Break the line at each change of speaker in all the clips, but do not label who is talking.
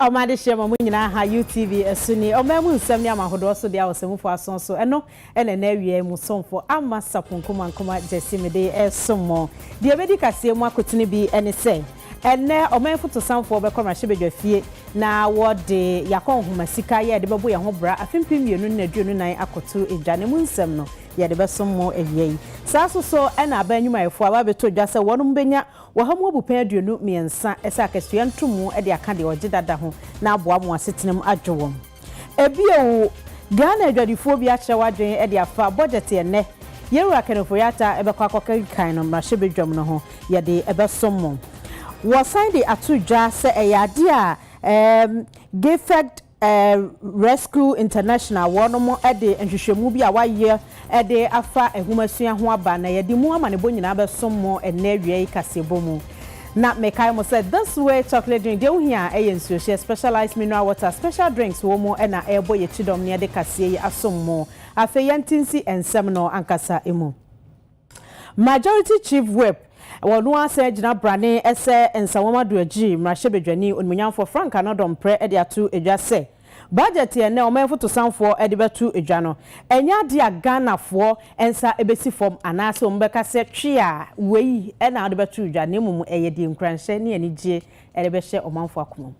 Ɔma adehyeɛ ma mo nyinaa ha UTV ɛso nie ɔmaa mu nsɛm ne amahodoɔ so deɛ ɔsɛmufo aso so ɛno ɛna ɛnɛ awiaɛ mu somfo Amma Sapon Nkomankoma Gyasi mede ɛresom mo deɛ ɛbɛdi kaseɛ mu akotene bi ɛne sɛ ɛnɛ ɔman fotosanfoɔ bɛkɔ mmarahyɛbadwa fie na wɔde yɛakɔ nhoma sika yɛ ɛde bɛbo yɛn ho bra afe mpem mmienu ne aduonu nan akɔto dwa ne mu nsɛm no yɛde bɛsom mo awia yi saa nso so ɛna aban nnwumayɛfoɔ aba abɛtɔ dwa sɛ wɔnom bɛnya Wɔ ha mu abupɛn aduonu mmiɛnsa sɛ akatua nto mu de aka deɛ ɔgye dada ho na aboa mo asetena mu adwo wɔn. Bio, Ghana adwadifoɔ bi akyerɛ w'adwene de afa bɔgyɛte ɛnnɛ Yɛwura Kenneth-Boyata bɛkɔ akɔkenkan no mmarahyɛbadwam no ho, yɛde bɛsom mo. Wɔsan de ato dwa sɛ ɛyɛ adeɛ a ɛɛm Gifford Rescue International wɔnom de nhwehwɛmu bi a wɔayɛ de afa nhomasua ho aba na yɛde mu amanebɔ nyinaa bɛsom mo nnɛ awia yi kaseɛbɔ mu. Na mekae mo sɛ This Way Chocolate Drink deɛ wohia ara yɛ nsuohyeɛ, Specialized Mineral Water, Special Drinks wɔ mu na ɛrebɔ yɛn kyidɔm na yɛde kaseɛ yi asom mo. Afei yɛnte nsi nsɛm no ankasa mu. Majority Chief Whip wɔ ɔno ara sɛ gyinabrane sɛ Nsawam Adoagyiri Mmarahyɛbadwani Onimuonyamfoɔ Frank Annor Domprɛ de ato dwa sɛ Budget a ɛnnɛ Ɔmanfotosanfoɔ de bɛto dwa no ɛnyɛ adeɛ a Ghanafoɔ nsa bɛsi fam anaasɛ wɔn bɛka sɛ twe a wei na wode bɛto dwa na mmom ɛyɛ deɛ nkuranhyɛ ne anigyeɛ de bɛhyɛ ɔmanfoɔ akomam.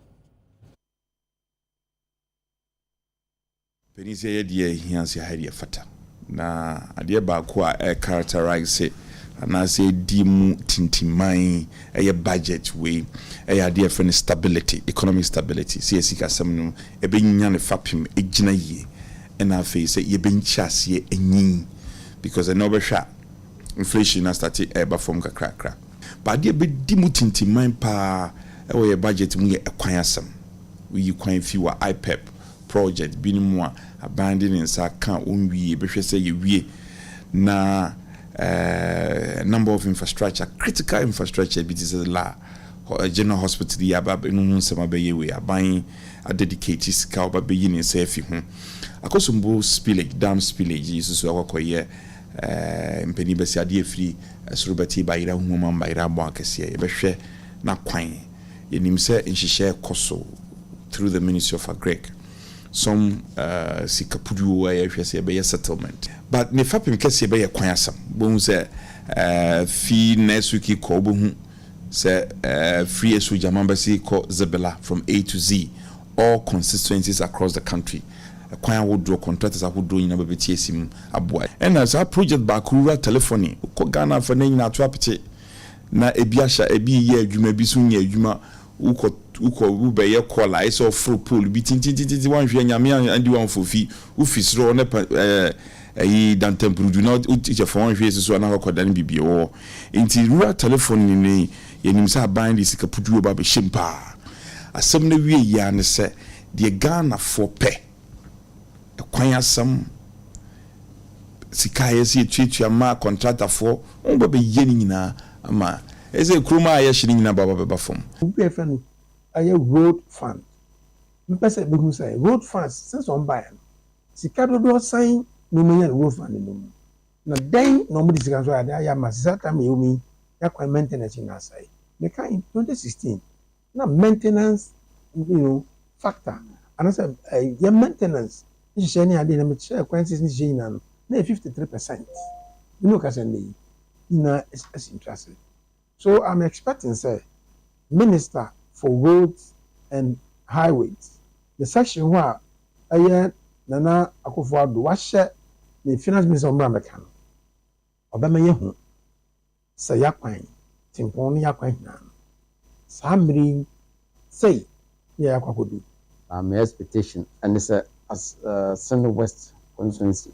Panin sɛ yɛ deɛ ɛhia sɛ ha yɛ deɛ ɛfata. Na adeɛ baako a ɛ characterise anaasɛ ɛdi mu tintiman yɛ budget wei yɛ adeɛ a yɛfrɛ no stability, economic stability, sɛ yɛ sikasɛm no ɛbɛnya ne fapem agyina yie ɛna afei sɛ yɛbɛnkyi aseɛ anyin because ɛnnɛ wobɛhwɛ a inflation no astate ɛreba fam kakrakra. But adeɛ a ɛbɛdi mu tintiman pa ara wɔ yɛ budget mu yɛ ɛkwan asɛm. woyi kwan fi wɔ IPEP prɔwjɛt binom mu a, aban de ne nsa ka a onwie, yɛbɛhwɛ sɛ yɛwie na a number of infrastructure, critical infrastructure bi te sɛ la General Hospital yi aba no ho nsɛm abɛyɛ wei, aban adedicate sika a ɔba bɛyi ne nsa afi ho. Akosombo spillage, dam spillage yi nso so akɔkɔyɛ eh, mpanin bɛsi adeɛ afiri soro bɛte bayera huhum ama bayera abɔ akɛseɛ, yɛbɛhwɛ n'akwan. Yɛnim sɛ nhyehyɛɛ kɔ so through the ministry of Agric, some sika puduo a yɛhwɛ sɛ yɛbɛyɛ settlement. But ne fapem kɛseɛ bɛyɛ kwan asɛm. Wobɛhu sɛ fi next week yi kɔ wobɛhu sɛ firi Asuogyaman bɛsi kɔ Zebela from A to Z, all constituencies across the country. Kwan ahodoɔ, contractors ahodoɔ nyinaa bɛbɛti asi mu aboa. Ɛna saa project baako rural telephony, wokɔ Ghana afa no nyinaa ato apete. na ebi ahyɛ ebi reyɛ adwuma ebi nso nyɛ adwuma wokɔ wokɔ wobɛyɛ call a ayɛ sɛ ɔforo pole bi tintintintiti wanhwɛ nyame andi wamfofi wofi soro hɔ ne pa ɛɛ ɛyi dantampurudu na wokyɛ fa wanhwɛ yɛ susu anaa wakɔda ne bibie wɔ hɔ nti rural telephone ne ne yɛnim sɛ aban de sika puturu ba bɛhyɛ mu paa asɛm no wie yia ne sɛ deɛ Ghanafoɔ pɛ kwan asɛm, sika a yɛsɛ yɛtuatua ma kɔntratafoɔ, wɔn ba bɛyɛ ne nyinaa ama ɛsɛ kurom a yɛhye ne nyinaa baba bɛba fam. Obi a yɛfrɛ no
ɛyɛ road fund mpɛ sɛ bɛhu sɛ road funds since wɔn baeɛ no sika dodoɔ sɛn na wɔn anya no road fund no mu na dɛn na wɔn de sika nso ayɛ ade ayɛ ama sɛ saa time a yɛwɔ mu yi yɛn akwan maintenance nyinaa asɛe mekae twenty sixteen na maintenance you know factor anasɛ yɛ maintenance nhyehyɛɛ ne adeɛ na me kyerɛɛ kwan sisi nhyehyɛɛ nyinaa no na yɛ fifty three percent me ne ɔkasa nnɛ yi nyinaa asi ntwa ase so I'm expecting sɛ minister for roads and highways ne section hɔ a ɛyɛ Nana Akufo Addo wahyɛ ne finance minister ɔmmra mmɛka no. Ɔbɛma yɛahu sɛ y'akwan tempɔn ne y'akwan hinaa no, saa mmere yi sei ne a yɛakɔ akɔdu. Na me
expectation ne sɛ as Seme West constituency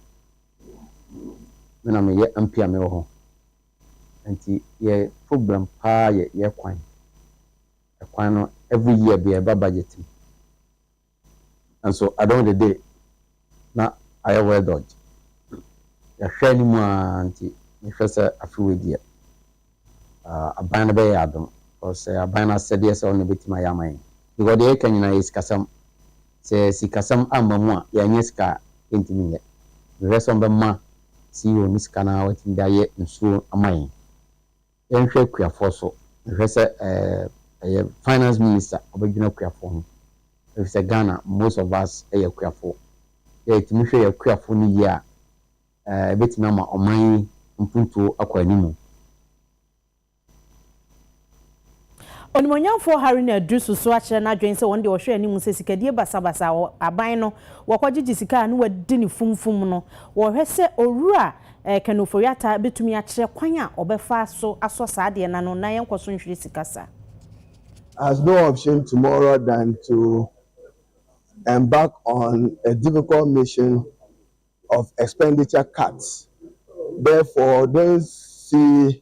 me na meyɛ MP a mewɔ hɔ nti yɛ problem paa yɛ y'akwan. Ɛkwan no every year biara ɛba budget mu. Nanso adom de de, na ayɛ hɔ dodgy. Yɛahwɛ anim ara nti, mehwɛ sɛ afe wei deɛ, aban no bɛyɛ adom because ɛyɛ aban no asɛdeɛ sɛ ɔno na ɔbɛtumi ayɛ ama yɛn. Because deɛ yɛreka nyinaa yɛ sikasɛm. Sɛ sikasɛm amma mu a, yɛanyɛ sika a, yɛntumi nyɛ. Mehwɛ sɛ wɔbɛma CEO no sika na watumi de ayɛ nsuo ama yɛn. Yɛnhwɛ Kuafoɔ so. Mehwɛ sɛ ɛyɛ finance minister ɔbɛdwena Kuafoɔ ho. Efisɛ Ghana most of us yɛ Kuafoɔ. Sɛ yɛtumi hwɛ yɛn Kuafoɔ no yie a, ɛbɛtumi ama ɔman yi mpuntuo akɔ animu.
Onimuonyamfoɔ Haruna Addu susu akyerɛ n'adwene sɛ wɔn deɛ wɔhwɛ anim sɛ sikadie basabasa wɔ aban no, wɔkɔgyegye sika a na wɔadi no fumfum no. Wɔhwɛ sɛ Owura Ken Ofori-Atta bɛtumi akyerɛ kwan a ɔbɛfa so asɔ saa adeɛ no ano na yɛnkɔ so nhwere sika saa. Has
no option tomorrow than to embark on a difficult mission of expenditure cuts, therefore don't see.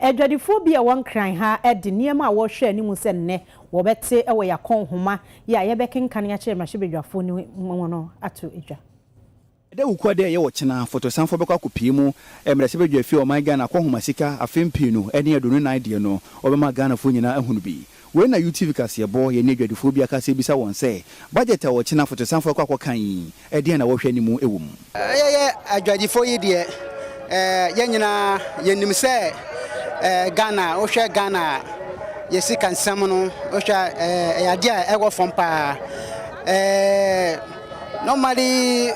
Adwadifoɔ bi a ɛwɔ Nkran ha de nneɛma a wɔrehwɛ anim sɛ nnɛ wɔbɛte wɔ Yɛakɔn nhoma yi a yɛbɛkenkan akyerɛ mmarahyɛbadwafoɔ no mu no ato dwa. Dawukuo
a dɛ yɛ ɔkyena fotosanfoɔ bɛkɔ akɔpie mu mmarahyɛbadwa fie a ɔman Ghana akɔ nhomasika afem pii nu ne aduonu nan deɛ no wɔbɛma Ghanafoɔ nyinaa ahunu bi. Wei na UTV kaseɛbɔ, yɛne adwadifoɔ bi akasa rebisa wɔn sɛ, Budget a ɔkyena fotosanfoɔ rekɔ akɔkan yi, ɛdeɛn na wɔhwɛ ne mu wɔ mu? Yɛyɛ
adwadifoɔ yi deɛ, yɛn nyinaa yɛnim sɛ Ghana, wohwɛ Ghana a, yɛn sika nsɛm no, wohwɛ a, ɛyɛ adeɛ a ɛwɔ fam pa ara. Normally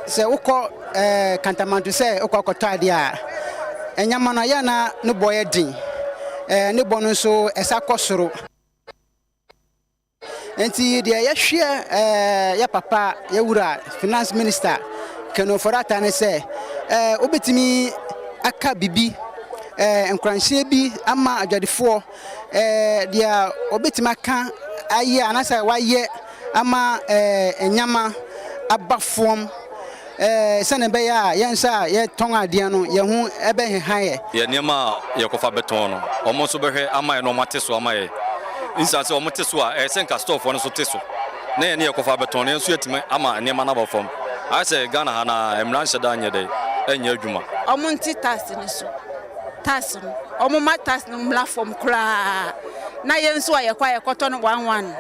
sɛ wokɔ ɛɛ kantamanto sɛ wokɔ akɔtɔ adeɛ a, ɛnyama no ayɛ na ne bɔ yɛ den. Ɛɛ ne bɔ no nso ɛsa kɔ soro. Nti deɛ yɛhwɛ ɛɛ yɛ papa yɛ wura finance minister Ken Ofori-Atta ne sɛ ɛɛ wobɛtumi aka bibi ɛɛ nkuranhyɛ bi ama adwadifoɔ. Deɛ wɔbɛtumi aka ayɛ anaasɛ wɔayɛ ama nneɛma aba fam sɛdeɛ ɛbɛyɛ a yɛn nso a yɛtɔn adeɛ no yɛn ho bɛheha yɛn. Yɛn nneɛma a
yɛkɔfa bɛtɔn no, wɔn nso bɛhwɛ ama yɛn na wɔate so ama yɛn. Esiane sɛ wɔte so a, ɛyɛ sɛ anka stɔɔfoɔ no nso te so na yɛne yɛkɔfa bɛtɔn no, yɛn nso yɛatumi ama nneɛma no aba fam. Ayɛ sɛ Ghana ha no ara, mmara nhyɛ da nyɛ dɛn? Nyɛ adwuma. Wɔnte tax
no so. tax no, wɔmma tax no mmra fam koraa na yɛn nso a yɛkɔ a yɛkɔtɔ no one one no,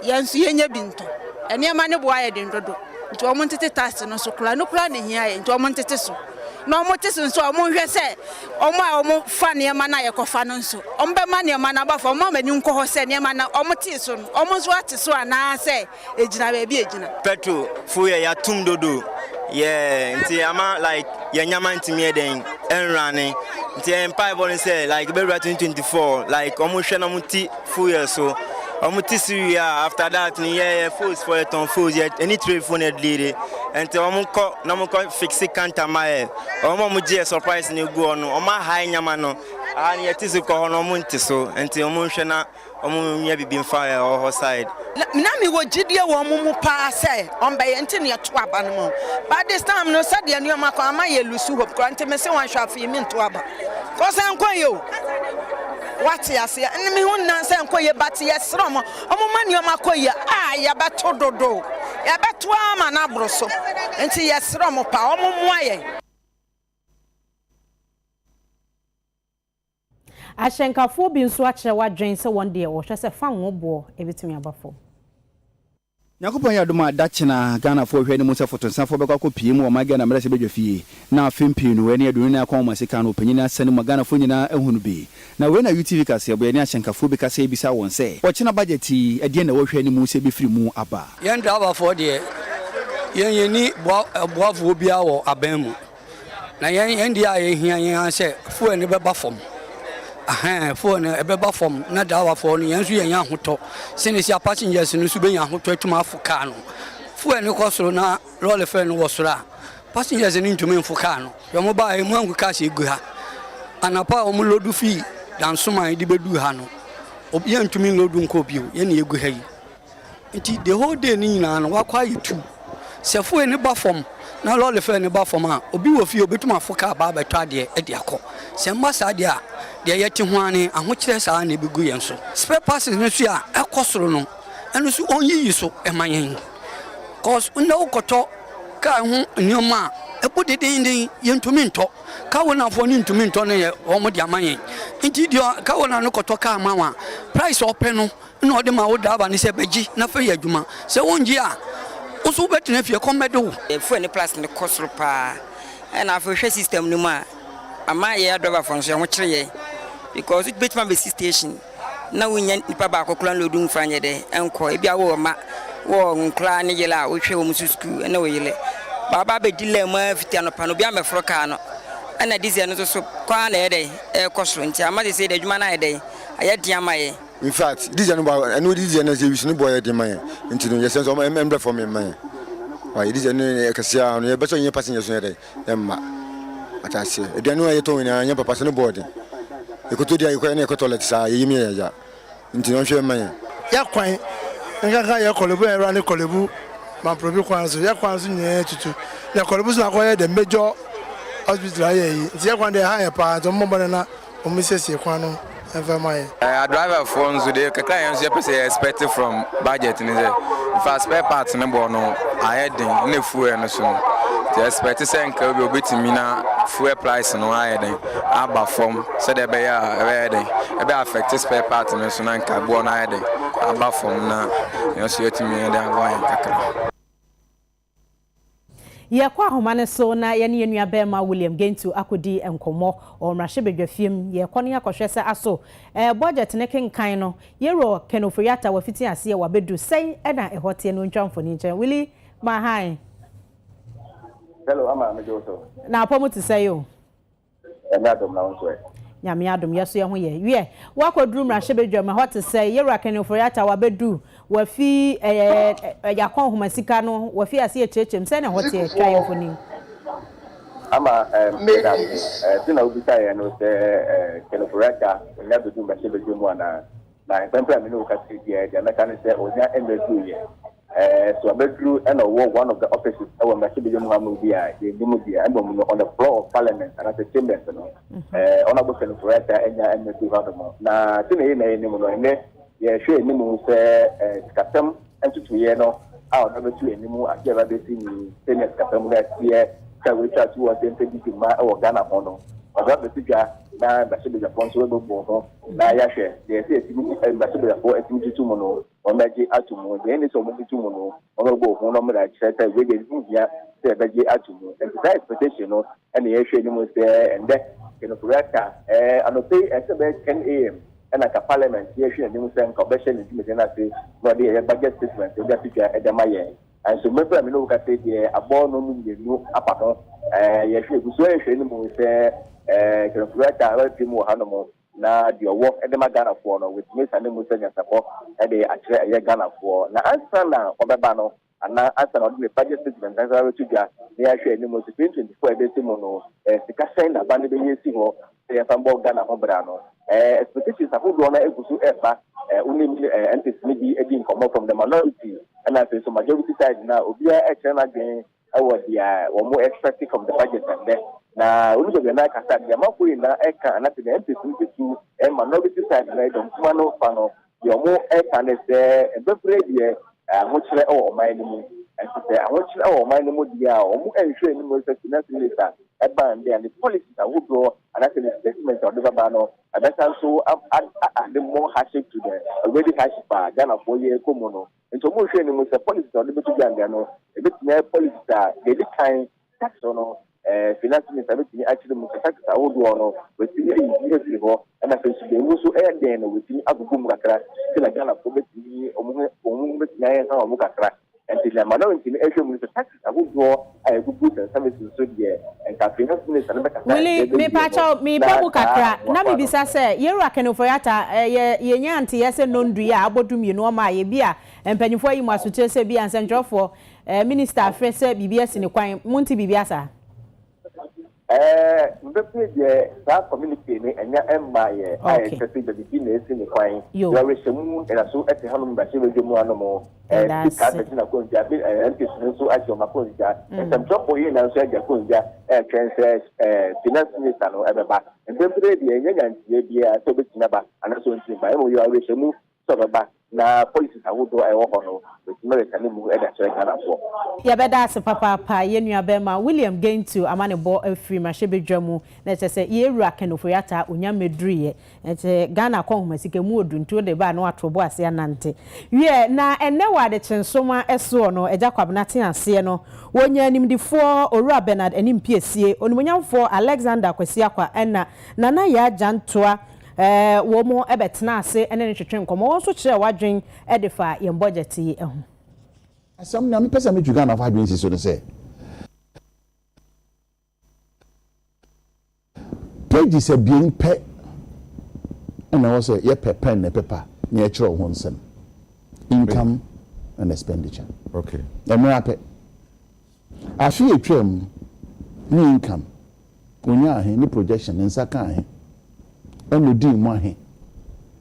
yɛn nso yɛnya bi ntɔ. Nneɛma no bo ayɛ den dodo, nti wɔntete tax no so koraa. Ɛno koraa na ɛhia yɛn, nti wɔntete so. Na wɔte so nso a, wɔnhwɛ sɛ wɔn a wɔfa nneɛma no a yɛkɔfa no nso, wɔbɛma nneɛma no aba fam, wɔmma wɔn ani nkɔ hɔ sɛ nneɛma no a wɔtee so no, wɔn nso ate so anaasɛ egyina baabi a egyina. Petro fo yɛ
yatum dodo yeah nti ama like yɛ nyama ntumi yɛ dɛn ɛnrane nti yɛ mpae bɔ no sɛ like bɛwura 2024 like ɔmo hwɛ na ɔmo ti fo yɛ so ɔmo ti siri yɛ a after that no yɛ yɛ fos fo yɛ tɔn fos yɛ ɛni tire fo na ɛdili de nti ɔmo kɔ na ɔmo kɔ fiksi kanta ma yɛ ɔmo ɔmo gye yɛ surprise na egu ɔno ɔmo aha yɛ nyama no aha no yɛ ti so kɔ hɔ na ɔmo nti so nti ɔmo nhwɛ na. wɔnyɛ biribi mfa ɛhɔ hɔ side. Na me wɔ
gyidie wɔ wɔn mu paa sɛ wɔn bɛyɛ nti na yɛto aba no ma wɔn but this time no sɛdeɛ nneɛma kɔ ama yɛ lose hope koraa nti me se wɔn hwɛ afei me nto aba cause ɛnkɔ yie o wate aseɛ ɛne me ho nnan sɛ ɛnkɔ yie but yɛ serɛ wɔn wɔn ma nneɛma kɔ yie a yɛbɛto dodo yɛbɛto ama no aboro so nti yɛ serɛ wɔn paa wɔn mmoa yɛn.
Ahyɛnkafoɔ bi nso akyerɛ w'adwene sɛ wɔn deɛ wɔhwɛ sɛ fa ngo boɔ bɛtumi aba fam.
Nyankopɔn yɛ adom a da kyena Ghanafoɔ hwɛ anim sɛ fotonsafoɔ bɛkɔ akɔ pie mu wɔ ɔman Ghana mmarahyɛ badwa fie na afe mpii no ɛne aduonu nan kɔnhoma sika no ɔpanyin asa no mu ma Ghanafoɔ nyinaa ahu no bi na wei na UTV kaseɛboɛ ne ahyɛnkafoɔ bi kasa yi bisaa wɔn sɛ ɔkyena budget yi ɛdeɛn na wɔhwɛ anim sɛ ɛbɛfiri mu aba. Yɛn driverfoɔ deɛ
yɛn yɛnni boa boafoɔ biara wɔ aban mu Na yɛn yɛn deɛ a yɛhia yɛn ara sɛ fuel no bɛba fam ahɛn fuel no ɛbɛba fam na driverfoɔ no yɛn nso yɛnya ahotɔ sɛne si a passengers no nso bɛnya ahotɔ atumi afo kaa no fuel no kɔ soro na lɔre fɛ no wɔ soro a passengers no ntumi mfo kaa no yɛn mo baa ɛmu angu kaa sɛ ɛgu ha anapa a wɔn lodu fii dansoman de bɛdu ha no yɛntumi lodu nkɔ bio yɛne ɛgu ha yi Nti the whole day no nyinaa no wakɔ ayɛ tuu. Sɛ foe no ba fam na lɔre fɛɛ no ba fam a, obi wɔ fie a obetumi afo kaa aba abɛtɔ adeɛ de akɔ. Sɛ ɛmma saa deɛ a, deɛ yɛte ho ara ne ahokyerɛ saa ara na ebegu yɛn so. Spare parts no nso a ɛkɔ soro no, ɛno nso wɔnyiyi so mma yɛn. Cause nnɛ wokɔtɔ kaa ho nneɛma a, ɛbɔ dedeenden, yentumi ntɔ. Car ownerfoɔ no ntumi ntɔ no nyɛ wɔn de ama yɛn. Nti deɛ car owner no kɔtɔ car ma wo a, price a ɔpɛ no na ɔde ma wo driver no sɛ bɛgye na fa yɛ adwuma. Sɛ wongye a, wo nso wobɛtena fie, ɛkɔm bɛde wo. Fuel ne plus no
kɔ soro paa. Ɛna afei wohwɛ system no mu a, ama yɛn adriverfoɔ nso yɛn ho kyere yɛn because wobɛtumi abɛsi station na wonnya nipa baako koraa nloadu mfa nyɛ dɛ nkɔ. Ebia wowɔ mma, wowɔ nkwadaa ne yere a wohwɛ wɔn nso sukuu ne wo yere. Ba waba abɛdi line mu ara fiti anɔpa no, obiara mmɛforo kaa no. Ɛna diesel no nso so kɔ ara na ɛyɛ dɛn? Ɛrekɔ soro. Nti ama seesei deɛ adwuma no ayɛ dɛn? Ayɛ den ama yɛn. in fact this year
no ba ɛno this year no sɛ wisu no bɔ yɛ den ma yɛn nti no yɛsɛ nso ɛmɛ ɛmbrɛ fam ɛmma yɛn ɔyɛ this year no yɛ kɛse a no yɛbɛsɛ yɛn passenger so yɛ dɛ ɛmma ataseɛ aduane no a yɛtɔ nyinaa nyɛ papa sɛ no bɔ den yɛkɔtɔ di a yɛkɔ ɛna yɛkɔ toilet saa yɛyɛ mu yɛ yɛya nti no ɔnhwɛ ɛmma yɛn yɛkwan
nkanka yɛ kɔlɛbu yɛ ɛwura ne kɔlɛbu mamprobi kwan so yɛkwan so nyinaa tutu na kɔlɛbu so na akɔyɛ the major hospital ayɛ yi nti yɛkwan deɛ ɛha yɛ paa nti ɔmmɔ bɔne na wɔnsiesie kwan no mfa mma yɛn. Yɛ driver foɔ nso
deɛ kakra yɛn nso yɛpɛ sɛ yɛ expect from budget no sɛ nfa spare parts no bɔ no ayɛ den ne fuel no so no yɛ expect sɛ nka obi obetumi na fuel price no ayɛ den aba fam sɛdeɛ ɛbɛyɛ a ɛbɛyɛ den ɛbɛ affect spare parts no so na nka boɔ no ayɛ den aba fam na yɛn nso yɛtumi yɛn de aboa yɛn kakra.
Yɛkɔ ahoma no so na yɛne yɛn nua barima William Gentoo akɔdi nkɔmmɔ wɔ mmarahyɛbadwafie mu. Yɛkɔ no yɛkɔhwɛ sɛ aso ɛɛ bɔdgyɛt no kenkan no Yero Ken Ofori-Atta wafiti aseɛ wabɛdu sɛn ɛna ɛhɔ teɛ no ɔntwa mfoni nkyerɛ Willy ma hann. Hello,
Ama, megye wo so. Na apɔ mu te sɛn
o? Nyame
adom na wo nso ɛ? Nyame adom, yɛ
so yɛ ho yɛ. Wiɛ, woakɔ duru mmarahyɛbadwam, ɛhɔ te sɛn? Yɛwura Kenny Ofori-Atta wabɛdu, wafi ɛɛ Yakɔn Homasika no, wafi ase ɛkyerɛkyerɛm, sɛn na ɛhɔ teɛ? Twa yɛn mfonin.
Ama ɛɛm, yɛda ase. Ɛɛ, sɛ na wobisa yɛn no sɛ ɛɛ Kenny Ofori-Atta ɔnya bɛdu mmarahyɛbadwam mu anaa? Na mpɛn pɛn a me ne wo kasa yi biara deɛ mɛka ne sɛ ɔnya mmɛduru yɛ. Eh, so abɛduru na ɔwɔ one of the offices wɔ mmarahyɛbadwam hɔ ama obi a yɛnni mu deɛ mmom no on the floor of parliament anaasɛ chambers no mhm. eh, ɔno abɔ sɛnfoɔ ata anya ɛmɛ bi hɔ nom na sɛ na yɛ na yɛnim no ɛnɛ yɛhwɛ anim sɛ eh, sikasɛm ntotoeɛ no a ɔno bɛto anim ade a ɛbɛbɛsi ni sɛnea sikasɛm no ateɛ sɛ wɔatwa to wɔ sɛ mpɛ didi ma wɔ ghana ho no ɔno abɛsi dwa na mmarahyɛbadwafoɔ nso bɛbɔ ho na yɛahwɛ deɛ ɛsɛ atumi mmarahyɛbadwafoɔ atumi tutu mu no wɔbɛgye ato mu, nea ene sɛ wɔbɛbutu mu no, wɔbɛbɔ ohun no mmra, kyerɛ sɛ wei deɛ ne ho hia sɛ yɛbɛgye ato mu. Enti saa expectation no na yɛrehwɛ anim sɛ ɛnnɛ Kenokouraka, ɛɛ, anɔpa yi ɛsɛ sɛ ɛbɛyɛ 10 AM na anka Parliament yɛrehwɛ n'anim sɛ anka ɔbɛhyɛ ne dwumadi no ase na ɔde ɛyɛ budget statement no de ato dwa de ama yɛn. Nanso mmere bere a me ne wo kasa yi deɛ abɔ no mu mmienu afa ho, ɛɛ, yɛhwɛ, yɛgu so rehwɛ anim sɛ, ɛɛ, Kenokouraka bɛpem wɔ hanom. Na deɛ ɔwɔ de ma Ghanafoɔ no, watumi asiane mu sɛ nyansapɔ de akyerɛ ɛyɛ Ghanafoɔ. Na ansa na ɔbɛba no, anaa ansa na ɔde ne budget statement ankasa abɛto dwa na yɛahwɛ anim nso, 2024 a ɛbɛsi mu no, eh, sika sɛn na aba no bɛyi asi hɔ sɛ yɛmfa mbɔ Ghana ho bra no? Eh, expectations ahodoɔ no agu so ɛreba. Eh, wonim eh, MPs no bi di nkɔmmɔ from the minority ɛna afei nso majority side no a obiara ɛkyerɛ n'adwene wɔ dea wɔn expect from the budget ɛndɛ na ɔnu bɛbi a na ɛka sa dea amafo nyina ɛka anase dea MPs no bɛtu minority side no dɔm kuma no fa no dea ɔmo ɛka ne sɛ ɛbɛbrɛ deɛ ahokyerɛ wɔ ɔman no mu ɛnti sɛ ahokyerɛ wɔ ɔman no mu deɛ a ɔmo ɛnhwɛ anim sɛ finance minister ɛba ɛndɛ a ne policies ahodoɔ anase ne statement a ɔde bɛba no ɛbɛsa nso a a a de more hardship to the already hardship a Ghanafoɔ yɛ kɔ mu no Nti ɔmo nhwɛ anim sɛ policies a ɔde bɛto dwa nnɛ no ebetumi ayɛ policies a deɛ edi kan tax no no ɛɛ finance minister betumi akyerɛ mu sɛ taxes ahodoɔ no watumi ayi bi afiri hɔ ɛna sɛ nso deɛ emu nso ɛyɛ den no watumi agugu mu kakra sɛ na Ghanafoɔ betumi ɔmo ho ɔmo ho betumi ayɛ nka ɔmo kakra nti deɛ Malawenti no ɛhwɛ mu no sɛ tax ahodoɔ a ɛgugu sɛnsɛme so nso deɛ, nka afei na Minister no bɛkasa Willy, ɛberɛ bɛn deɛ hɔ
mepakyɛw, na mebɔ mu saa kakra aboafoɔ na ano. mebisa sɛ, Yeru Akenefoyata, eh, yɛ, yɛnyaa nteyɛ sɛ Nondui a abɔ du mmienu ɔmaa yɛ, bi a mpanyinfoɔ ayi mo asotire sɛ bi a nsɛntwerɛfoɔ, eh, Minister afrɛ sɛ biribi asi ne kwan, monte biribi asaa? Ɛɛ,
mebɛpue deɛ saa communique no ɛnya mmaa yɛ a ɛkyerɛ sɛ biribi na ɛsi ne kwan. Yɛrehyɛ mu nnaso te hanom mmarahyɛbadwa mu anom. Ɛɛ, Speaker abɛgye n'akonnwa, ɛɛ MPs no nso agye wɔn akonnwa. Nsɛmtwerɛfoɔ yei na nso agye akonnwa ɛretwɛn sɛ ɛɛ Finance Minister no ɛbɛba. Mprempren deɛ yɛnnya nyanteɛ biara sɛ ɔbɛtumi aba anaasɛ ɔntumi mma, mmom yɛwɔ awerɛhyɛmu Sɛ ɔbɛba na policies ahodoɔ a ɛwɔ hɔ no bɛsi mmirika no mu de akyerɛ Ghanafoɔ. Yɛbɛda ase
papaapa yɛn nua bɛɛma William Gentu amanebɔ afiri mmarahyɛbadwa mu na kyerɛ sɛ yɛn wura Ken Ofori-Atta Onyah mmɛduruyɛ nti Ghana kɔ nhomasika mu ɔdu nti wode ba a na wato bo ase anante wiɛ na ɛnnɛ wɔ adekyensoma soɔ no Agya Kwabena te aseɛ no wɔnya animdefoɔ Owura Bernard Anim Piesie, Onimuonyamfoɔ Alexander Kwasi Akwa ɛna Nana Yaa Gyantoa Wɔbɛtenaa ase ne no twetwee nkɔmmɔ. Wɔn nso kyerɛɛ wɔn adwene de faa yɛn bɔgyɛte yi ho. Asɛm
no a mepɛ sɛ mitu Ghanafo adwene si so ne sɛ, pages abien pɛ na ɛwɔ sɛ yɛpɛ pɛn ne pepa na yɛkyerɛw ho nsɛm, income and expenditure. Okay. Mmerɛ ara pɛ. Afe a etwaam no, ne income, onyaa he, ne projection, ne nsa kaa he, ɛna odii mu ahe,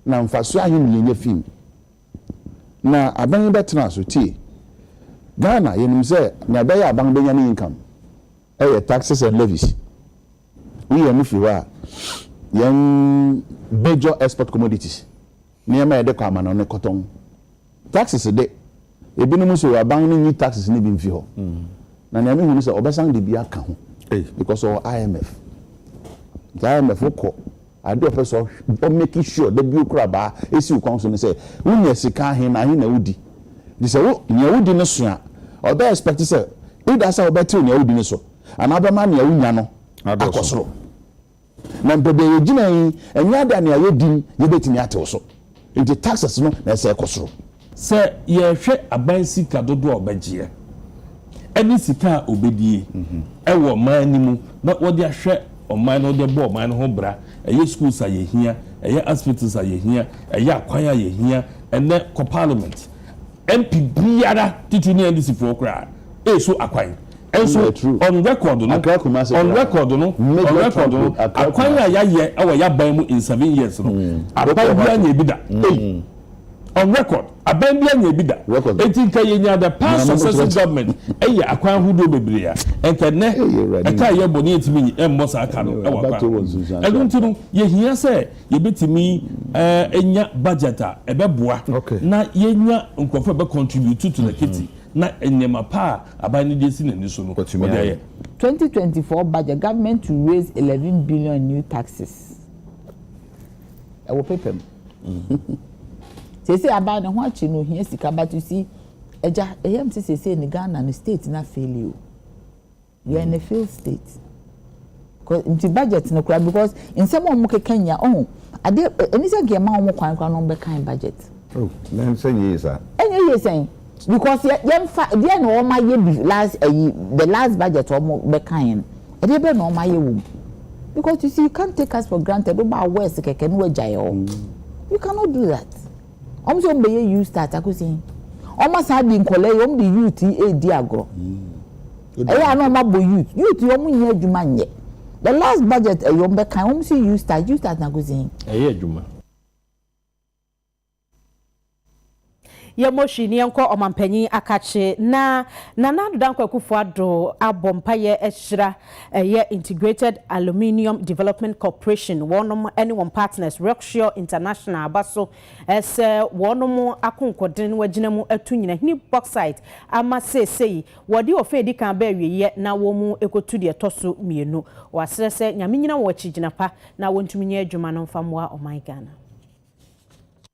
na mfasoɔ ahe na yɛnya fii mu. Na aban yi bɛtena so. Tie, Ghana, yɛnim sɛ nea ɛbɛyɛ a aban bɛnya ne income yɛ taxes and levies. Woyi ɔno firi hɔ a, yɛn major export commodities, Nneɛma a yɛde kɔ amano ne kɔtɔn. Taxes de, ebinom nso wɔ aban no nyi taxes no bi mfi hɔ. Na nea mehu ne sɛ wɔbɛsan de bi aka ho because ɔwɔ IMF. Nti IMF wokɔ, ade a ɔpɛ sɛ ɔ make sure da bio kora baa esi wo kɔn so ne sɛ wonya sika ahe na ahe na wodi. Nti sɛ wo nea wodi no so a, ɔbɛ expect sɛ either sɛ wobɛtew nea wodi no so anaa wobɛma nea wonya no akɔ soro. Na mpo deɛ yɛgyina yi, ɛnyɛ ade a nea yɛdim yɛbɛtumi atew so. Enti taxes no na ɛsɛ ɛkɔ soro. Sɛ
yɛhwɛ aban sika dodoɔ a ɔbɛgyeɛ ɛne sika a ɔbɛdie ɛwɔ ɔman no mu na wɔde ahwɛ ɔman no, wɔde bɔ ɔman no ho bra, ɛyɛ schools a yɛhia, ɛyɛ hospitals a yɛhia, ɛyɛ akwan a yɛhia ɛnɛ kɔ parliament. MP biara titiri ne NDC foɔ koraa resu akwan. Nso on record no, on record no, on record no, akwan a yɛayɛ wɔ y'aban mu in seven years no, aban biara nyɛ bi da. Ei! On record, aban biara nyɛ bi da. Enti nka yɛnya the past successive government yɛ akwan ahodoɔ bebree a, nka nnɛ ɛka a yɛbɔ no yɛntumi mmɔ saa ka no wɔ akwan ahodoɔ. Ɛno nti no, yɛhia sɛ yɛbɛtumi anya budget a ɛbɛboa na yɛnya nkurɔfoɔ a ɛbɛ contribute to the kitty na nneɛma pa a aban no de asi n'ani so no wɔde ayɛ. Twenty
twenty four budget government to raise eleven billion new taxes ɛwɔ paper mu seesei aban ne ho akyi no ohia sika but you see agya ɛyam sɛ seesei ne Ghana no state no afeeli o. Yɛ ne fail state cause nti budget no koraa because nsɛm a wɔn keka nyia ɔho ade ɛni sɛ nka yɛ ma wɔn kwan koraa na wɔn bɛ kan budget. Oh na nsɛ
nyɛ yie saa. Ɛnyɛ yie sɛn
because yɛ yɛn fa deɛ na wɔn ayɛ bi last ɛyi the last budget wɔn bɛ kan yɛn ɛdeɛ bɛ na wɔn ayɛ wɔ mu because you see you can't take us for granted wo ba awɔ ɛse kɛkɛ na wɔ agya yɛ hɔ you cannot do that. Wɔn sɛ wɔn bɛyɛ you start akosi hin. Wɔn asan de nkɔlaa yi wɔn de youth yi edi agorɔ. Ɛyɛ a na wɔn abɔ youth. Youth yi wɔn nyɛ adwuma nyɛ. The last budget ɛyɛ wɔn bɛkan wɔn si you start you start akosi hin. Ɛyɛ adwuma.
Yɛ motion ne yɛnkɔ ɔmanpanyin akakye na Nana Ado Dankwa Akufo Addo abɔ mpaeɛ ahyira Ɛyɛ Integrated Aluminium Development Corporation wɔnom ne wɔn partners Rocksure International aba so sɛ wɔnom akonkɔden no agyina mu atu Nyinahini Bauxite ama seesei wɔde ɔfã a ɛdi kan aba awieɛ na wɔrekɔtu deɛ ɛtɔ so mmienu. Wɔasrɛ sɛ Nyame nyina wɔn akyi gyina pa na wɔntumi nyɛ adwuma no mfa mmoa ɔman Ghana.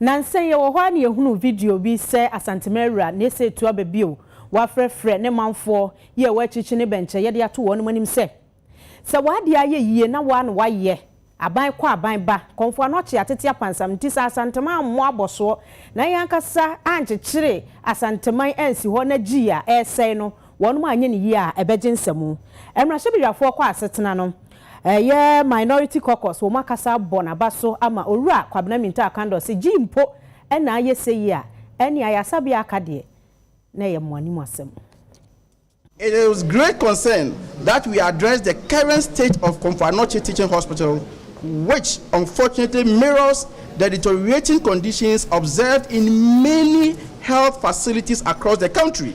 Nansa yi wɔ hɔ ara na yɛhunuu video bi sɛ Asanteman Awura Nese Atuaba bio, wafrɛfrɛ ne manfoɔ yi a wɔakyirikyi ne bɛnkyɛ yɛde ato wɔnom anim sɛ, Sɛ w'adeɛ ayɛ yie na woa na woayɛ, aban kɔ aban ba, kɔmfoɔ ano akye atete apansam, nti sɛ Asanteman ammɔ abɔsoɔ na yɛn ankasa ankyekyere Asanteman ansi hɔ na gyii a ɛresɛe no, Wɔnom anyɛ no yie a ɛbɛgye nsamu. Mmarahyɛbedwafoɔ kɔ asetena no ɛyɛ Minority Caucus wɔn akasa abɔ naba so ama Owura Kwabena Minta Akandor se gyii mpo na ayɛ seyi a ɛne ayasabea aka deɛ na ɛyɛ mo anim asɛm.
It is with great concern that we address the current state of Komfo Anokye Teaching Hospital which unfortunately mirrors the deteriorating conditions observed in many health facilities across the country.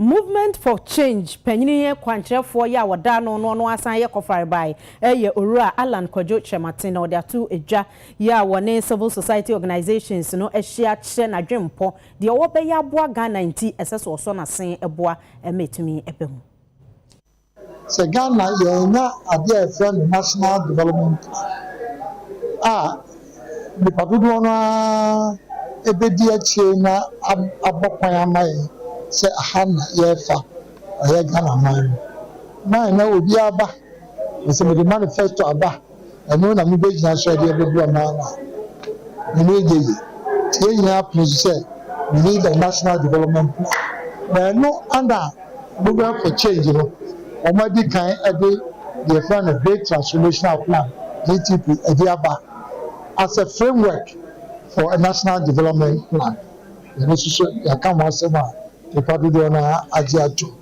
Movement for Change panyin yɛ kwankyerɛfoɔ yɛ a wɔda ano no ɔno ara san yɛ kɔfarebae yɛ Owura Allan Kwadwo Kyerematen na ɔde ato dwa yɛ a wɔne Civil Society Organisations no ahyia kyerɛ n'adwenpɔ deɛ ɔwɔ bɛyɛ aboa Ghana nti ɛsɛ sɛ ɔsɔ n'asen boa ma ɛtumi ba mu.
Sɛ Ghana yɛannya adeɛ a yɛfrɛ no National Development Plan a nnipa dodoɔ no ara bɛdi akyire na abɔ kwan ama yɛn sɛ aha na yɛrefa ayɛ Ghana man no, mae na obiara ba na sɛ mede manifesto aba Ɛno na mubegyina so de aboboa mo ano a, mo ani rennye ye. Yɛn nyinaa pene so sɛ we need a national development plan. Na ɛno na Movement for Change no wɔadi kan de deɛ yɛfrɛ no Great Transformational Plan, GTP, de aba as a framework for a national development plan. Yɛn nso so yɛaka ho asɛm a nnipa dodoɔ no ara agye atom.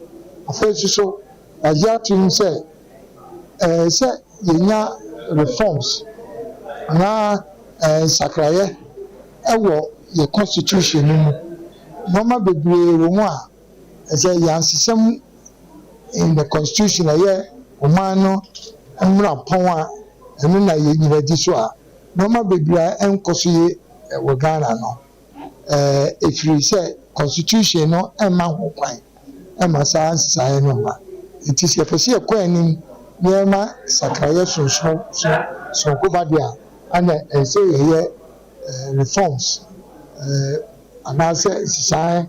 Afei nso so, yɛagye atom sɛ ɛɛ sɛ yɛnya reforms anaa ɛɛ nsakraeɛ ɛwɔ yɛ constitution no mu. Nnoɔma bebree wɔ mu a ɛsɛ yɛansesa mu in the constitution ɛyɛ ɔman no mmrapɔn a ɛno na yɛnyina di so a nnoɔma bebree ɛnkɔ so ye wɔ Ghana no. ɛfiri sɛ constitution no mma ho kwan ma saa nsesaeɛ no mma. Nti sɛ yɛpɛ sɛ yɛkɔ anim na yɛma nsakraeɛ sonso sononko ba deɛ a, ɛna ɛsɛ yɛyɛ reforms anaasɛ nsesaeɛ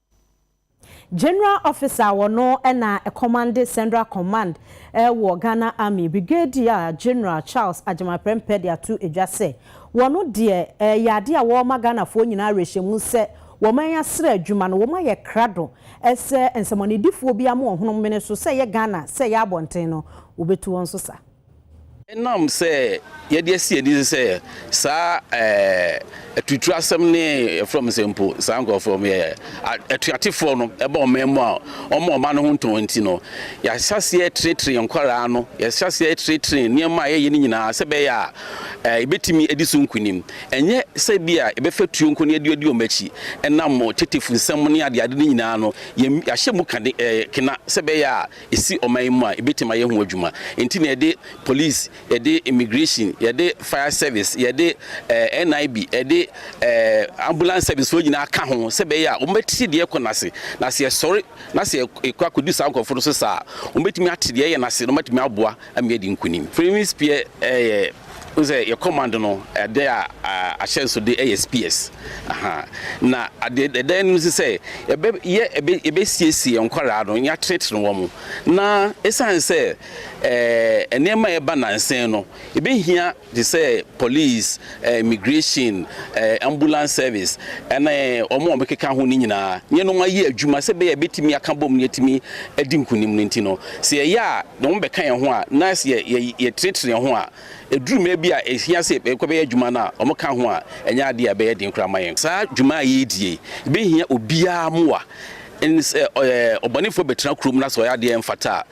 General Officer a wɔno na ɛkɔmande Central Command wɔ Ghana Army, Brigadier General Charles Agyemang Prempeh de ato edwa sɛ, wɔno deɛ ɛyɛ adeɛ a wɔma Ghanafoɔ nyinaa awerɛhyɛmu sɛ wɔman asra adwuma no, wɔn ayɛ krado sɛ nsɛmɔnedifoɔ biara ma wɔhonom mene so, sɛ ɛyɛ Ghana, sɛ ɛyɛ abɔnten no, wɔbɛtu wɔn so saa. Ɛnam
sɛ yɛde asi yɛn ani so sɛ saa atuturu asɛm ne yɛfrɛ wɔn sɛ mpo saa nkurɔfoɔ wɔn yɛ atuatefoɔ no ɛba ɔman mu a wɔma ɔman no ho ntɔn nti no yɛahyɛ aseɛ trenetene yɛn nkwaraa no yɛhyɛ aseɛ trenetene nneɛma a yɛyɛ no nyinaa sɛ bɛyɛ a ɛbɛtumi adi so nkunim ɛnyɛ sɛ bi a yɛbɛfa tuo nko ne yɛde adi wɔn akyi ɛnam tetefo nsɛm ne adeade no nyinaa no yɛahyɛ mu kane kena sɛ bɛyɛ a ɛsi ɔman yi mu a ɛbɛtumi ayɛ ho adwuma. Nti na yɛde police, yɛde immigration, yɛde fire service, yɛde eh, NIB, yɛde eh, ambulance service foɔ nyinaa ka ho sɛ bɛyɛ a wɔbɛte deɛ ɛkɔ n'ase. Na sɛ yɛsɔre na sɛ yɛkɔ akɔdi saa nkurɔfoɔ no so saa a, wɔbɛtumi ate deɛ ɛyɛ n'ase na wɔatumi aboa ama yɛadi nkunim. Freeman's Pier eh, yɛ Wohu sɛ yɛ kɔmando no ade a ahyɛnsode yɛ spears ahaa na ade ɛda anim nso sɛ yɛbɛ yɛ yɛbɛsiesie yɛn nkwaraa no yɛatenetene wɔn na ɛsiane sɛ ɛɛ nneɛma a ɛba nansen no yɛbɛhia te sɛ police ɛɛ immigration ɛɛ ambulance service ɛne wɔn a wɔkeka ho no nyinaa yɛnom ayɛ adwuma sɛ bɛyɛ bɛtumi aka bom no yɛtumi adi nkunim no nti no sɛ yɛyɛ a ne ho bɛka yɛn ho a, na sɛ yɛtenetene yɛn ho a, ɛduru mmerɛ bi a ɛhia sɛ yɛkɔbɛyɛ adwuma no a, wɔka ho a, ɛnyɛ adeɛ a ɛbɛyɛ den koraa ama yɛn. Saa dwuma a yɛredi yi bɛhia obiara mmoa. Ɛne sɛ, ɔbɔnefoɔ bɛtena kurom na sɛ ɔyɛ adeɛ a ɛmfata a,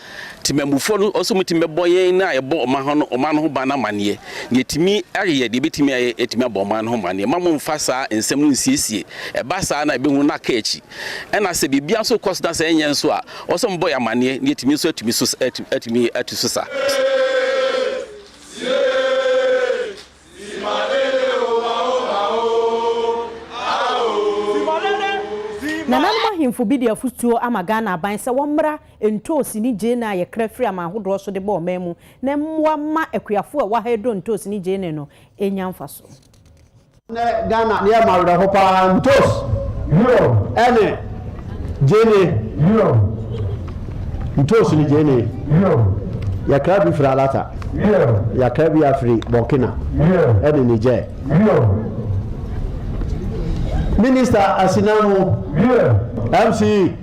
temammufoɔ no nso wɔtumi bɛbɔ yɛn a yɛbɔ ɔman no ho ban no amanneɛ. Deɛ ɛtumi ayɛ, deɛ ɛbɛtumi ayɛ, yɛatumi abɔ ɔman no ho amanneɛ. Mma mommfa saa nsɛm no nnsiesie. Ɛba saa no a, yɛbɛhunu no aka akyi. Ɛna sɛ biribiara nso rekɔ so na sɛ ɛnyɛ nso a, ɔwɔ sɛ mobɔ yɛn amanneɛ na yɛatumi nso atumi so atumi atu so sa.
Nananom ahemfo bi de afotuo ama Ghana aban sɛ wɔmmra ntoosi ne gyeene a yɛkra firi aman ahodoɔ so de bɔ ɔman mu na mmoa mma akuafoɔ a ɛwɔ ha redɔ ntoosi ne gyeene no ɛnya mfasoɔ. Nnɛ
Ghana deɛ ɛma awerɛho pa ara ntos ne gyeene. Ntos ne gyeene. Yɛkra bi firi Alata, yɛakra bi afiri Burkina ne Niger. Minister Asinamu, MC.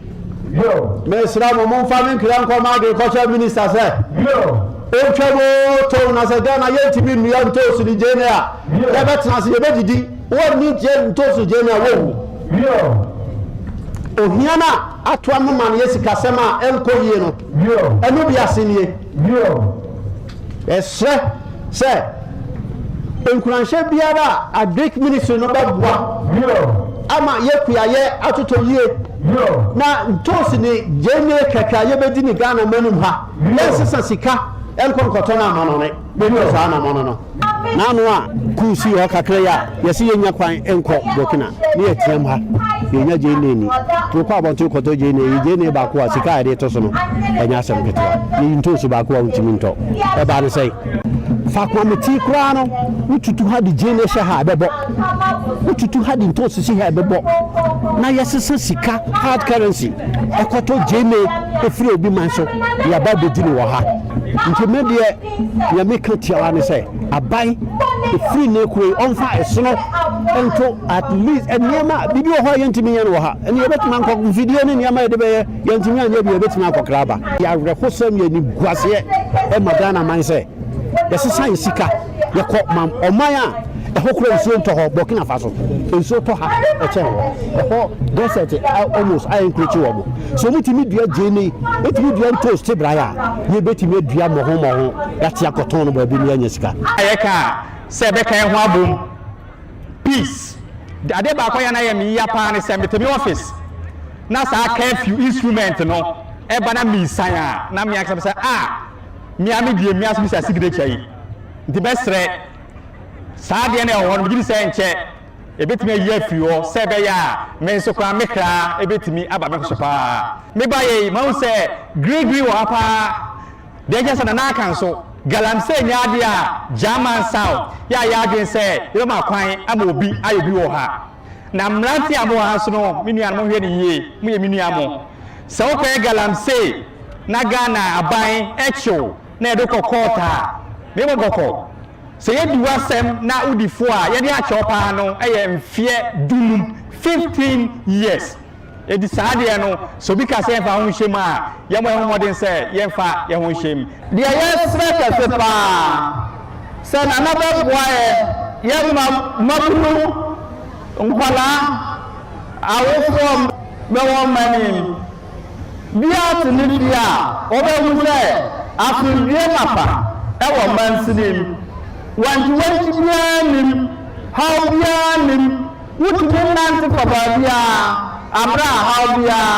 Yo. Mesrɛ mo momfa me ntwerɛ nkɔ m'adwene kɔkyerɛ minista sɛ Yo. ɔntwa mu tow na sɛ Ghana yɛntumi nnua ntoosu ne gyeene a Yo. yɛbɛtena ase yɛbɛdidi wɔnni gye ntoosu gyeene a wɔwu. Yo. Ohia no a atoa no ma no yɛ sikasɛm a ɛnkɔ yie no Yo. ɛno bi ase nie. Yo. Yɛsrɛ sɛ nkuranhyɛ biara a Agric Ministry no bɛboa ama yɛ kuayɛ atotɔ yie na ntoosi ne gyeene kɛkɛ a yɛbɛdi ne Ghana manum ha, yɛnsesa sika nkɔ nkɔtɔ no amanɔne. Yɛdi saa anamɔno no. N'ano a kuu sii hɔ kakra yi a Yɛse yɛnya kwan nkɔ Burkina ne yɛteam ha yɛnya gyeene ni. Nti wokɔ abɔnten kɔtɔ gyeene yi, gyeene baako a sika a yɛde to so no ɛnyɛ asɛm ketewa. Yiyi ntoosi baako a wontumi ntɔ. Ɛbaa ne sɛn? Faako a mete koraa no, wotutu ha de gyeene hyɛ ha ɛbɛbɔ. Wotutu ha de ntoosi si ha ɛbɛbɔ. Na yɛsesa sika, hard currency, ɛkɔtɔ gyeene ɛfiri obi man so de aba abɛdi no wɔ ha. Nti me deɛ Nea meka tiawa ne sɛ aban efiri ne kuro yi ɔnfa ɛsono nto at least nneɛma biribi wɔ hɔ a yɛntumi yɛn wɔ ha ɛne yɛbɛtumi ankɔ mfidie ne nneɛma yɛde bɛyɛ yɛntumi anyɛ bi yɛbɛtumi akɔkra aba. Yɛawerɛhosɛm yɛ niguaseɛ ɛma Ghana man sɛ yɛsesa yɛ sika yɛkɔ ma ɔman a ɛhɔ kura nsuo ntɔ hɔ Burkina Faso nsuo tɔ ha ɛkyɛn hɔ ɛhɔ desert almost ayɛ nkurekyi wɔ mo. Sɛ wɔtumi dua gyeene, wɔtumi dua ntoosi te braeɛ a, yei yɛbɛtumi adua mmɔho mmɔho na ate akɔtɔn no baabi na yɛanya sika. A yɛka a,
sɛ yɛbɛka yɛn ho abom. Peace. Adeɛ baako a ɛyɛ a na ɛyɛ me yea paa ne sɛ mete me office na saa curfew instrument no ɛba na mesian a, na me ankasa mese ah, me ara me deɛ me ara nso misa signature yi. Nti mɛsrɛ saa adeɛ no a ɛwɔ hɔ no megye di sɛ nkyɛ Yebetumi ayi afi hɔ sɛ ɛbɛyɛ a me nso koraa me kra betumi aba me ho so paa. Me baeɛ yi, mahu sɛ Gregory wɔ ha paa. Deɛ ɛkyerɛ sɛ na n'aka nso, galamsey nyɛ adeɛ a German South yɛ a yɛn adwene sɛ yɛbɛma kwan ama obi ayɛ bi wɔ ha. Na mmeranteɛ a mowɔ ha nso no, me nua no, monhwɛ no yie, moyɛ me nua mo. Sɛ wokɔyɛ galamsey na Ghana aban kye wo na yɛde wo kɔ kɔɔt a, me mmɔ bɔkɔ. Sɛ yɛdi w'asɛm na wodi fo a, yɛde akyɛ wo paa no yɛ mfeɛ dunum, fifteen years. Enti saa deɛ no, sɛ obi ka sɛ yɛmfa yɛn ho nhyɛ mu a, yɛmmɔ yɛn ho mmɔden sɛ yɛmfa yɛn ho nhyɛ mu. Deɛ yɛsrɛ kɛse paa sɛ Nana bɛboa yɛ, yɛ mmabunu, nkwadaa, awofoɔ bɛwɔ mma no mu. Wiase no di a, wɔbɛhu sɛ asomdwoeɛ mapa wɔ mansin yi mu. Wankyiwankyi biara nnim, haw biara nnim, wotumi nante kɔ baabiara aberɛ a haw biara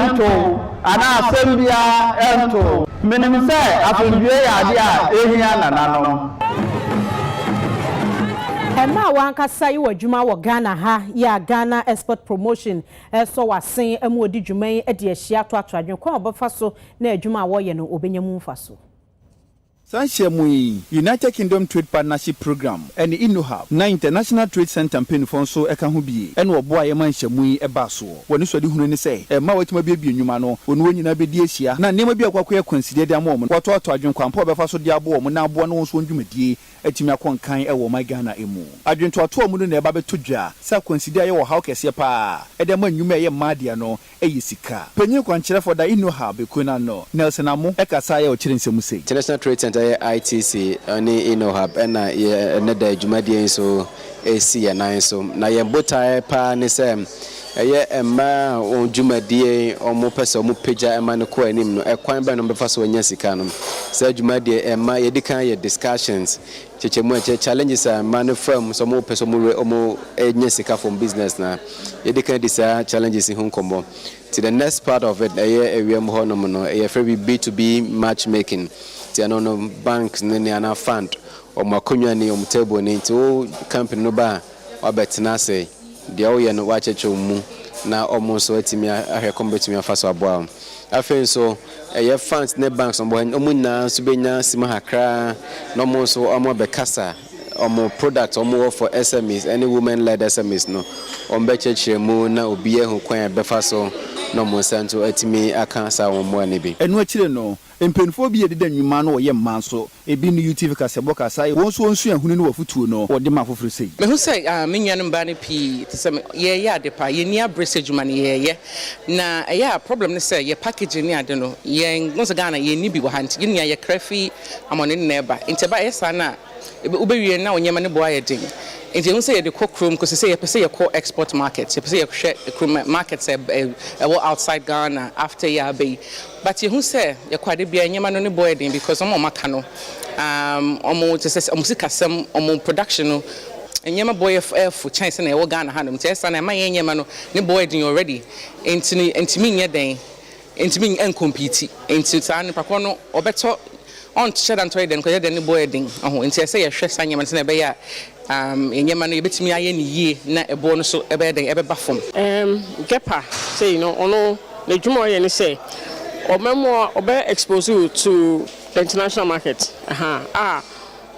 nto wo anaa asɛm biara nto wo. Menim sɛ asomdwoeɛ yɛ adeɛ a ɛhia nananom.
Ɛma w'ankasa yɛ w'adwuma wɔ Ghana ha yɛ a Ghana Export Promotion Ɛsɔ w'asen ama odi dwuma yi de ahyia atoatoa adwene kwan a ɔbɛfa so na adwuma a wɔreyɛ no obenya mu mfaso. Saa nhyiamu
yi, United Kingdom Trade Partnership Programme ne Innohub na International Trade Centre mpaninfoɔ nso ka ho bi na wɔboaeɛ ma nhyiamu yi baa soɔ. Wɔn anisoadehunu ne sɛ mmaa a wɔatumi abuebue nnwuma no, wɔne wɔn nyinaa bɛdi ahyia na nneɛma bi a ɛkɔ akɔyɛ akwansideɛ de ama wɔn no, wɔatoatoa adwene kwan pa a wɔbɛfa so de aboa wɔn na aboa no wɔn nso wɔn dwumadie atumi akɔ nkan wɔ ɔman Ghana mu. Adwentoatoa mu no na ɛba bɛtɔ dwa sɛ akwanside a ɛyɛ ɔhaw kɛseɛ pa ara de ma nnwuma a ɛyɛ mmaa deɛ no yɛ sika. Panyin kwankyerɛfoɔ da Innohub ekuo no ano, Nelson Amoh, kasaeɛ a ɔkyerɛ nsɛm sei. International Trade Centre yɛ
ITC ne Innohub na yɛn ɛnnɛ da dwumadie yi nso si yɛn nan so. Na yɛn botaeɛ pa ara ne sɛ Ɛyɛ mmaa a wɔn dwumadie a wɔpɛ sɛ wɔpagya ma no kɔ anim no, ɛkwan bɛn na wɔbɛfa so anya sika no. Saa dwumadie yi, mmaa, yɛdi kan yɛ discussions, nkyekyɛmu a ɛkyerɛ challenges a mmaa no fa mu sɛ wɔpɛ sɛ wɔnya sika from business no a, yɛdi kan di saa challenges yi ho nkɔmmɔ. Nti the next part of it, ɛyɛ awia mu hɔ nom no, yɛfrɛ bi B2B match making. Nti ɛno no, banks no ni anaa fund, wɔn akonnwa ni, wɔn table ni, nti wo company no ba a, wɔabɛtena ase, deɛ woyɛ no wɔakyɛkyɛ wo mu na wɔn nso atumi ahwɛ kwan a wɔbɛtumi afa so aboa wo. Afei nso ɛyɛ funds ne banks wɔn wɔn nyinaa nso bɛnya sima kakra na wɔn nso wɔabɛkasa wɔn product wɔn wɔ for SMEs ne women led SMEs no wɔbɛkyerɛkyerɛ mu na obi ahu kwan a ɛbɛfa so na wɔn nsa nso atumi aka saa wɔn mmoa no bi. Ɛno akyire no,
mpaninfoɔ bi yɛ deda nnwuma na wɔyɛ mmaa nso Ebi ne UTV kasabɔ kasa a wɔn nso wɔn suahunu ne wɔn afotuo no wɔde ma afoforɔ sei. Mehu sɛ me
nuanom baa no pii te sɛ me. Yɛreyɛ ade pa, yɛnni abre sɛ adwuma no yɛreyɛ. Na ɛyɛ a problem ne sɛ yɛ packaging ne ade no yɛn, wohu sɛ Ghana yɛnni bi wɔ ha nti yɛn nyinaa yɛkra fi amɔnene na ɛba nti ɛba ɛyɛ saa no a wobɛwie no na wo nneɛma no bo ayɛ den. Nti yɛhu sɛ yɛde kɔ kurom kɔsi sɛ yɛpɛ sɛ yɛkɔ export market, yɛpɛ sɛ yɛhwɛ kurom markets a ɛwɔ outside Ghana after yɛaba yi. But yɛhu sɛ yɛkɔ ade biara nneɛma no ne bɔyɛ den because wɔn a wɔn aka no um wɔn te sɛ wɔn sikasɛm wɔn production no nneɛma bɔ yɛ ɛyɛ fo kyɛn sɛ na yɛwɔ Ghana hanom nti ɛsan na ɛma yɛn nneɛma no ne bɔyɛ den already nti no ntumi nyɛ dɛn ntumi nkompiti nti saa nipa korɔ no ɔbɛtɔ Ɔnhyɛ da ntɔ yɛ dɛ, nkɔyɛ dɛ no bɔ yɛ den. Ɔho nti ɛsɛ yɛhwɛ saa nneɛma no sɛnea ɛbɛyɛ a umm nneɛma no yɛbɛtumi ayɛ no yie na ɛboɔ no so ɛbɛyɛ dɛn ɛbɛba fam. Umm Gepper
sei no ɔno n'adwuma a ɔyɛ ne sɛ ɔma mu a ɔbɛ expose wo to the international market ahaa a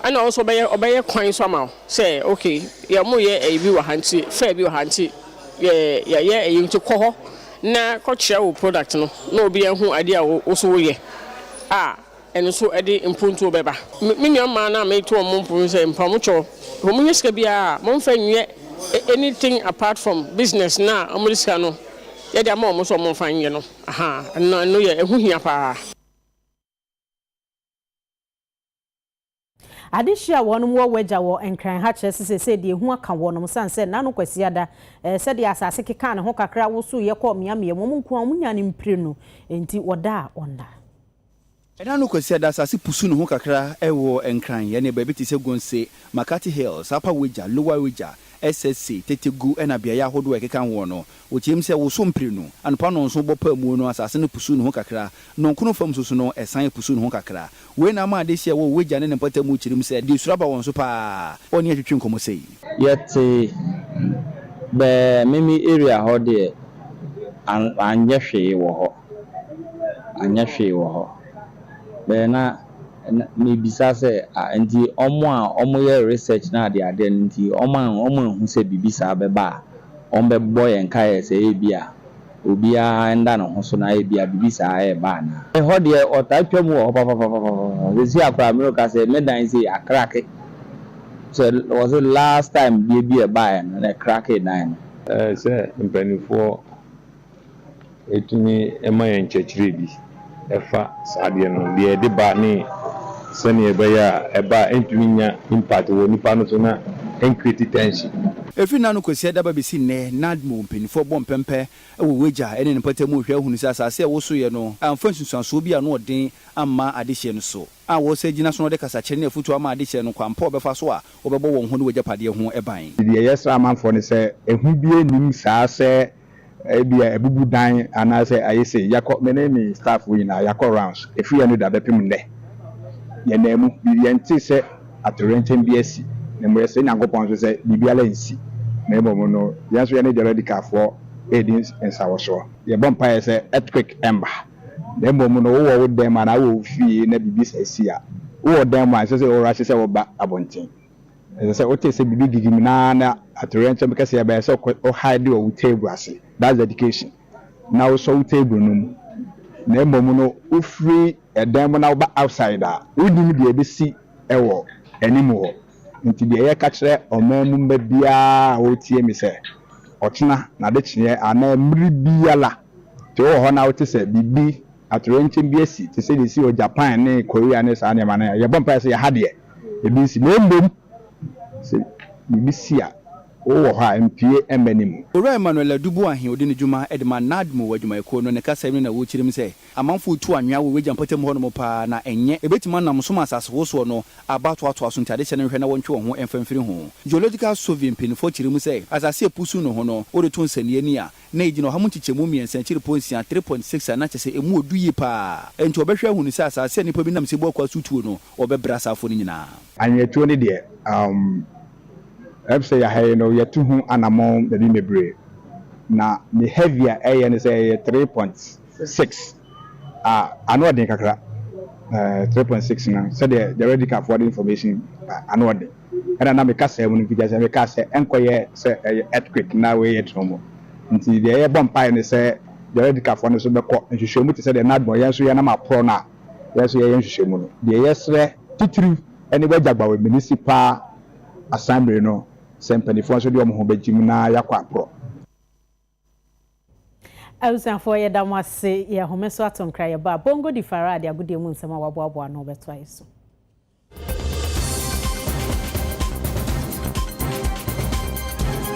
ɛna ɔno nso ɔbɛyɛ ɔbɛyɛ kwan nso ama wo sɛ okay yɛ ɔmo yɛ ɛyi bi wɔ ha nti fair bi wɔ ha nti yɛ yɛyɛ ɛyi nti kɔ hɔ. na kɔ kyerɛ wo product no na obi ahu adeɛ a wo so woyɛ a ɛno so ɛde mpontuo bɛba. Me nua mmaa no a me to ɔmo mpo no sɛ mpamokyɔ sɛ ɔmo nya sika biara a ɔmo nfa nyɛ anything apart from business no a ɔmo de sika no yɛ de ama ɔmo sɛ ɔmo nfa nyɛ no ahaa ɛno yɛ ɛho hia paa.
Adehye a wɔnom wɔ w'agya wɔ Nkran ha kyerɛ se seesei deɛ ehu aka wɔnom sane sɛ nna no Kwasiada ɛɛ sɛdeɛ asase kekaa ne ho kakra wosoeɛ kɔɔ mmeammea mu wɔn nko ara wɔn nyaa no mprenu enti wɔdaa ɔnna. Ɛnna
no Kwasiada asase pusu ne ho kakra wɔ Nkran ɛne baabi te sɛ Gonse, Makati Hills, Upper Wagya, Lower Wagya, SSC, Tetegu ɛna beaeɛ ahodoɔ a ɛkeka ho no wɔkyerɛm sɛ woso mprenu anɔpa nnɔnson bɔ paamuo no asase no pusu ne ho kakra nnɔnkono fam nso so no ɛsan pusu ne ho kakra Wei na ama adehye a ɛwɔ w'agya ne ne mpɔtam mu kyirim sɛ ɛde suro aba wɔn so paa. Ɔne yɛn twetwe nkɔmmɔ sei. Yɛte
bɛɛ meme area hɔ deɛ anyɛ hwee wɔ hɔ anyɛ hwee wɔ hɔ bɛɛ na mebisa sɛ ah nti wɔn a wɔn yɛ research no ade adeɛ no nti wɔn anhu sɛ biribi saa bɛba a wɔn bɛbɔ yɛn kaeɛ sɛ ebia obiara nda no ho so na ebia biribi saa reba anaa. Me hɔ deɛ ɔtaa twa mu wɔ hɔ papapapapapa sesei a koraa mereka sɛ me dan sei akrake sɛ wɔse last time deɛ bi a ɛbaeɛ no na ɛkrakee dan no. Ɛyɛ sɛ
mpaninfoɔ tumi ma yɛn nkyɛkyerɛ bi. ɛfa saa adeɛ no deɛ ɛde ba ne sɛdeɛ ɛbɛyɛ a ɛba a ɛntumi nnya impact wɔ nipa no so na ɛncreate tension. Ɛfiri nna no Kwassia
daba bɛsi nnɛ, Nadmo mpaninfoɔ bɔ mpɛmpɛ wɔ w'agya ne ne mpata mu rehwɛ ahunu sɛ asase a ɛwosoeɛ no amfa nsunsuansoɔ bi a ano ɔden amma adehyeɛ no so a wɔresan agyina so no de kasakyerɛ ne afotuo ama adehyeɛ no kwan pa a wɔbɛfa so a wɔbɛbɔ wɔn ho ne w'agyapadeɛ ho ban. Deɛ yɛsrɛ amanfoɔ
ne sɛ, ɛhu biara nnim saa sɛ ebia abubu dan anaasɛ ayɛ sei, yɛakɔ, me ne me staff fo nyinaa, yɛakɔ rounds, ɛfiri anno da bɛpem nnɛ, yɛnaa mu, biribi, yɛntee sɛ atoyerɛnkyɛm bi asi, na mmom yɛsrɛ Nyankopɔn nso sɛ biribiara nsi, na mmom no, yɛn nso yɛne Theological foɔ redi nsawɔsoɔ. Yɛbɔ mpaeɛ sɛ earthquake mma, na mmom no, wowɔ wo dan mu anaa wowɔ wo fie na biribi saa si a, wowɔ dan mu a, ɛnsɛ sɛ worahye sɛ woba abɔnten. Ɛsɛ sɛ wote sɛ biribi gigim na na atoyerɛnkyɛm kɛseɛ bɛyɛ sɛ wo hide wɔ wo table ase, that's dedication, na wosɔ wo table no mu, na mmom no wofiri dan mu na woba outside a, wonnim deɛ ɛbɛsi wɔ anim hɔ. Nti deɛ yɛka kyerɛ ɔman mu mma biara a wɔretie me sɛ, ɔkyena, nadekyeɛ anaa mmere biara te wowɔ hɔ na wote sɛ biribi, atoyerɛnkyɛm bi asi te sɛ deɛ ɛsi wɔ Japan ne Korea ne saa nneɛma no a, yɛbɔ mpaeɛ sɛ yɛ ha deɛ, ebi nsi, na mmom sɛ biribi si a, wowɔ hɔ a, mpue mmɛ no mu. Owura Emmanuel Adubu
Ahe odi ne dwuma de ma NAADMO adwumayɛkuo no ne kasam no na wokyirim sɛ amanfo retu anwea wɔ Wagya mpɔtam hɔ nom paa na ɛnyɛ ɛbɛtumi anam som asasewosoɔ no aba atoatoa so nti adehyɛ no nhwɛ na wɔntwe wɔn ho mfa mfiri ho. Geological Survey mpanyinfoɔ kyere mu sɛ asase a ɛpusu no ho no wode to nsɛnniiɛ ni a na ɛgyina ɔha mu nkyekyɛmu mmiɛnsa akyiri po nsia, three point six, a na kyerɛ sɛ ɛmu ɔdu yie paa nti wɔbɛhwɛ ahunu sɛ asase a nnipa bi nam sɛbuo akoa so tuo no wɔbɛbrɛ asaafoɔ no nyinaa. Anweatuo no deɛ
umm ɛb sɛ yɛaha yi no yɛtu ho anamɔn baabi mebree na ne heavy a ɛyɛ no sɛ ɛyɛ three point six a ano ɔden kakra ɛɛ three point six no sɛdeɛ the radical foɔ de information a ano ɔden ɛna na me kasaa mu no mfiti aseɛ mekaa sɛ ɛnkɔyɛ sɛ ɛyɛ earthquake na wei yɛ trɔmɔ nti deɛ yɛbɔ mpaeɛ ne sɛ the radical foɔ no nso bɛkɔ nhwehwɛmu te sɛ deɛ Nardwuar yɛn nso yɛnam aporɔ no a yɛn nso yɛyɛ nhwehwɛmu no, deɛ yɛsrɛ titiriw ne w'agyagbawe Munisipal Asambre no sɛ mpaninfoɔ nso de wɔn ho bɛgyem na yɛakɔ aporɔ.
Abusuafoɔ yɛda mo ase, yɛhome so ato nkra yɛba a, Bongo di Farah de agodie mu nsɛm a waboaboa ano rebɛtoa yɛ so.